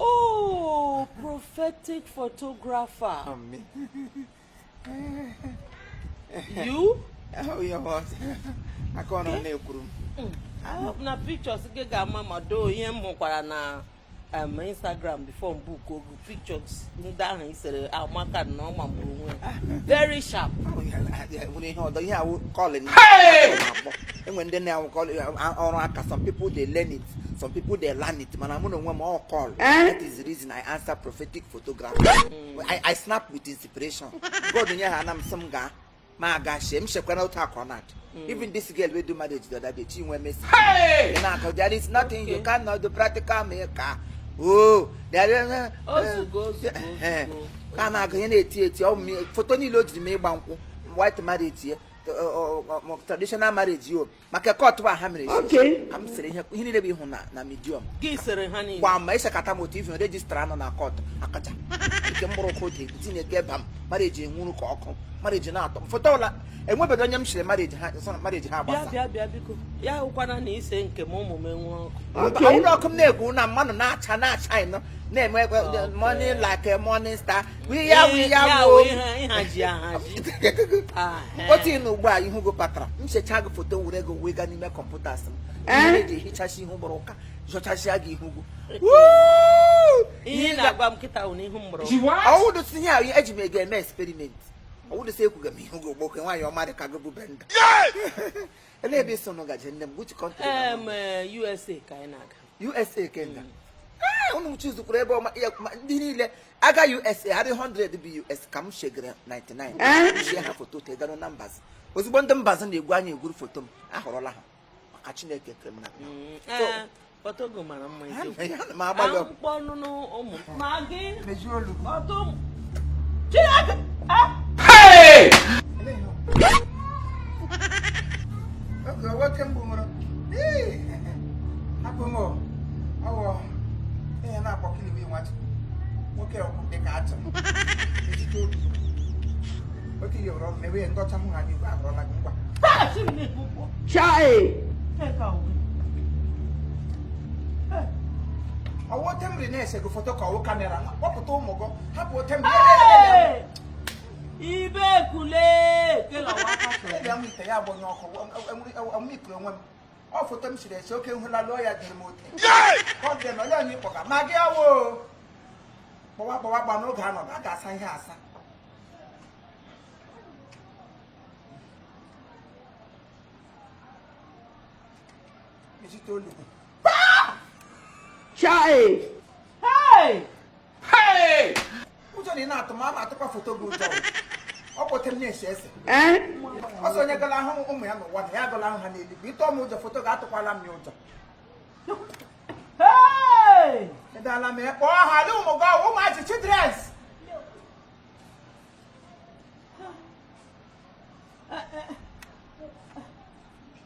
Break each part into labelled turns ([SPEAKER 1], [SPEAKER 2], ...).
[SPEAKER 1] Oh, prophetic photographer. you? Oh, your
[SPEAKER 2] boss. I can't on the room. I
[SPEAKER 1] hope na pictures gị ga-ama mma though ihe m hụkwara na um, Instagram before m book ọ gị oh, pictures ndị ahụ i sere amaka ah, na ọ magburu onwe ya. very sharp.
[SPEAKER 2] nwere ihe ọdọ ihe a wụ calling e nwee ndị ọ na-awụ calling ọrụ aka some people dey learn it. some people they learn it mana mụ na onwe m ọ wụ call eh? that is the reason i answer prophetic photography mm. I, i snap with inspiration God nye ha na m sị m gaa ma aga shee m shekwana otu a ka ọ na-adị mm. even this girl wey do marriage the other day she Chinwo Mercy ị na-akọ there is nothing okay. you cannot do protocol breaker oh there is eh,
[SPEAKER 1] eh, ka a
[SPEAKER 2] na-agụ ihe na-eti eti foto niile o jiri mee ịgba nkwụ white marriage ya traditional marriage ya o maka court a ha mere ka m sere ihe ihe niile bụ ị hụ na na midiọm
[SPEAKER 1] gba ma i sekata m
[SPEAKER 2] otu ivi register nọ na court akacha nke mkpụrụ ụkwụ dị tinye ga eba m marriage enwuru ka ọkụ marriage na-atọ m foto ọla enwebedo onye m sere marriage ha marriage ha gbasa bịa bịa biko
[SPEAKER 1] ya wụkwana na i see nke m ụmụ m enwu ọkụ ọkụ m
[SPEAKER 2] na-ekwu na mmanụ na-acha na-acha ị nọ na-eme morning like morning star otu ị na ugbu a ihu gị patara m shechaa gị foto were gị wee gaa n'ime computer asị m eji eh? hichasịa ihu mụrụ ụka zọchasịa gị ihu gị ị na-agwa m kịta na ihu mụrụ ọ wụdụ sị ihe ahụ eji m gị eme experiment ọ wụdụ sị ekwuga m ihu gị ugbo oke nwaanyị ọma dị ka gị bụ benda ele ebe ị sị unu gaje nne m which country eh, USA
[SPEAKER 1] ka anyị na-aga USA ka
[SPEAKER 2] ị ga ah, unu choosekwuru ebe ọma ndị niile aga USA ha dị 100 bụ US ka m shegara 99 shie ha foto tegara na embassy ozugbo ndị embassy na-egwu anya egwuru foto m ahọrọla ha maka Chineke kere m na mm, eh,
[SPEAKER 1] foto gị mara mma eziokwu. Ana m agbalị
[SPEAKER 2] ọgụ. Akpụkpọ ọnụ n'ụmụ nwoke ọkụ dị ka atụ otu ihe were ọrụ na-ewe ndọcha hụ ha n'igwe abụrụla gị ngwa
[SPEAKER 1] Chai!
[SPEAKER 2] ọ wụ ote m ri na-ese gị foto ka ọ wụ camera kpọpụta ụmụ gị hapụ ote
[SPEAKER 1] m ri ibe kule ite ya bụ onye ọkụ
[SPEAKER 2] amụikuru onwe m ọ foto m sere ese oke nhụla lụọ ya dịrị m ote ọ dị na onye onye ịkpọga ma gị awo gbawa gbawa gba n'oge anọ a ga-asa ihe asa ụjọ na ị na-atụ ma a na-atụkwa foto gị ụjọ ọ kpọtere na-ese ese ọsọ onye gala ahụ ụmụ ya n'ụwa na ya agala ahụ ha n'eluigwe ị tụ m ụjọ foto gị atụkwala m ya
[SPEAKER 1] ụjọ edala
[SPEAKER 2] m ya kpọọ ha dị ụmụ gị ọ wụ ụmụazị childrens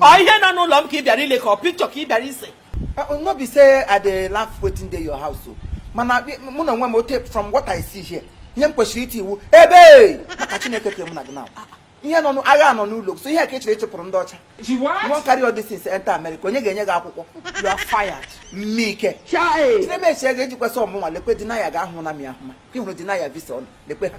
[SPEAKER 2] ọ ihe nọ n'ụlọ m ka ị bịara
[SPEAKER 1] ile ka ọ picture ka ị bịara ise uh, no be
[SPEAKER 2] say i dey laugh wetin dey your house o mana mụ na onwe m ote from what i see here ihe m kwesịrị iti iwu ebe maka chineke kere mụ na gị na ihe nọ agha nọ n'ụlọ so ihe a ka ị chere ịchịpụrụ ndị ọcha you wan carry all these things enter america onye ga-enye gị akwụkwọ you are fired mike chinemechi ego ejikwesị ọ mụnwa lekwe denial ga-ahụ na m ya ahụma ka ị hụrụ denial visa ọnụ lekwe ha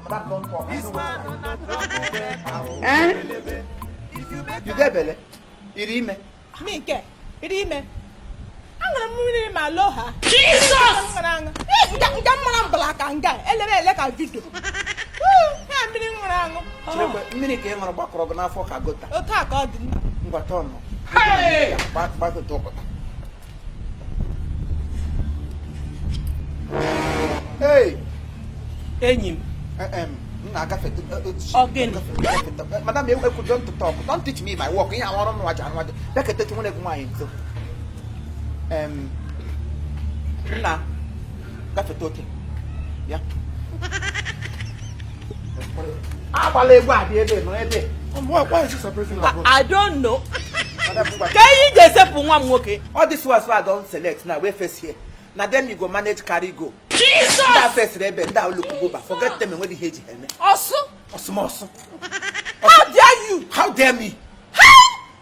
[SPEAKER 2] Eh? You get belle, ị rị ime. Mike,
[SPEAKER 3] ị rị ime. Aṅụrụ m mmiri ma loo ha. Jesus! Nga mmara mbala ka nga, elere ele ka video. Ọ mmiri m ṅụrụ aṅụ. Mmiri ka ị
[SPEAKER 2] ṅụrụ gbakọrọ gị n'afọ ka gutter. Otu a ka ọ dị nna.
[SPEAKER 3] Ngwa turn.
[SPEAKER 1] Gbakọta ụkọta. enyi m
[SPEAKER 2] na-agafe madam ekwu don't talk don't teach me my work ihe ahụ ọrụ nwa ji anụ nwaje bịa ka etetu nwere gị nwaanyị nso nna gafeta otu a agbala egwu adị ebe nọ ebe I don't
[SPEAKER 1] know. Ka ihe ji esepụ nwa m nwoke. All these ones wey I don
[SPEAKER 2] select now wey face here. Na dem you go manage carry go. Jesus! Ndị
[SPEAKER 1] a fesịrị
[SPEAKER 2] ebe ndị a look go back forget them enweghị ihe e ji ha eme. Ọsụ.
[SPEAKER 1] Ọsụmọsụ.
[SPEAKER 2] How
[SPEAKER 1] dare you? How dare me?